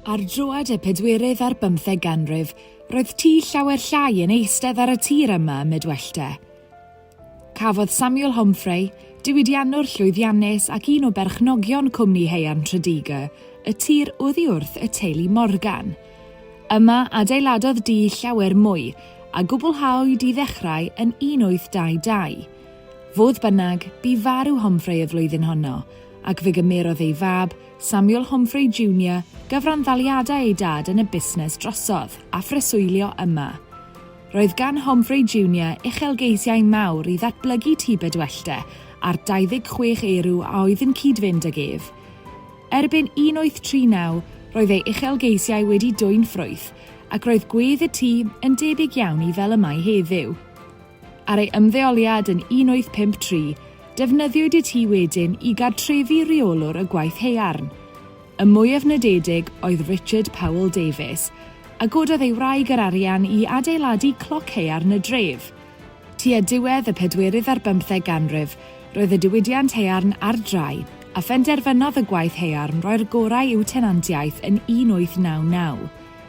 Ar droad y pedwerydd ar bymtheg ganrif, roedd tŷ llawer llai yn eistedd ar y tir yma ym Mydwellty. Cafodd Samuel Homfray, diwydiannwr llwyddiannus ac un o berchnogion cwmni haearn Tredegar, y tir oddi wrth y teulu Morgan. Yma adeiladodd dŷ llawer mwy, a gwblhaoed i ddechrau yn 1822. Fodd bynnag, bu farw Homfray y flwyddyn honno, ac fe gymerodd ei fab, Samuel Homfrey Junior, gyfranddaliadau ei dad yn y busnes drosodd a phreswylio yma. Roedd gan Homfrey Junior uchelgeisiau mawr i ddatblygu Tŷ Bedwellty ar 26 Erw a oedd yn cyd-fynd ag ef. Erbyn 1839, roedd ei uchelgeisiau wedi dwyn ffrwyth ac roedd gwedd y tŷ yn debyg iawn i fel y mae heddiw. Ar ei ymddeoliad yn 1853, defnyddiwyd y tŷ wedyn i gartrefu rheolwr y gwaith haearn. Y mwyaf nodedig oedd Richard Powell Davies, a gododd ei wraig yr arian i adeiladu cloc haearn y dref. Tua diwedd y pedwerydd ar bymtheg ganrif, roedd y diwydiant haearn ar drai, a phenderfynodd y gwaith haearn roi'r gorau i'w tenantiaeth yn 1899.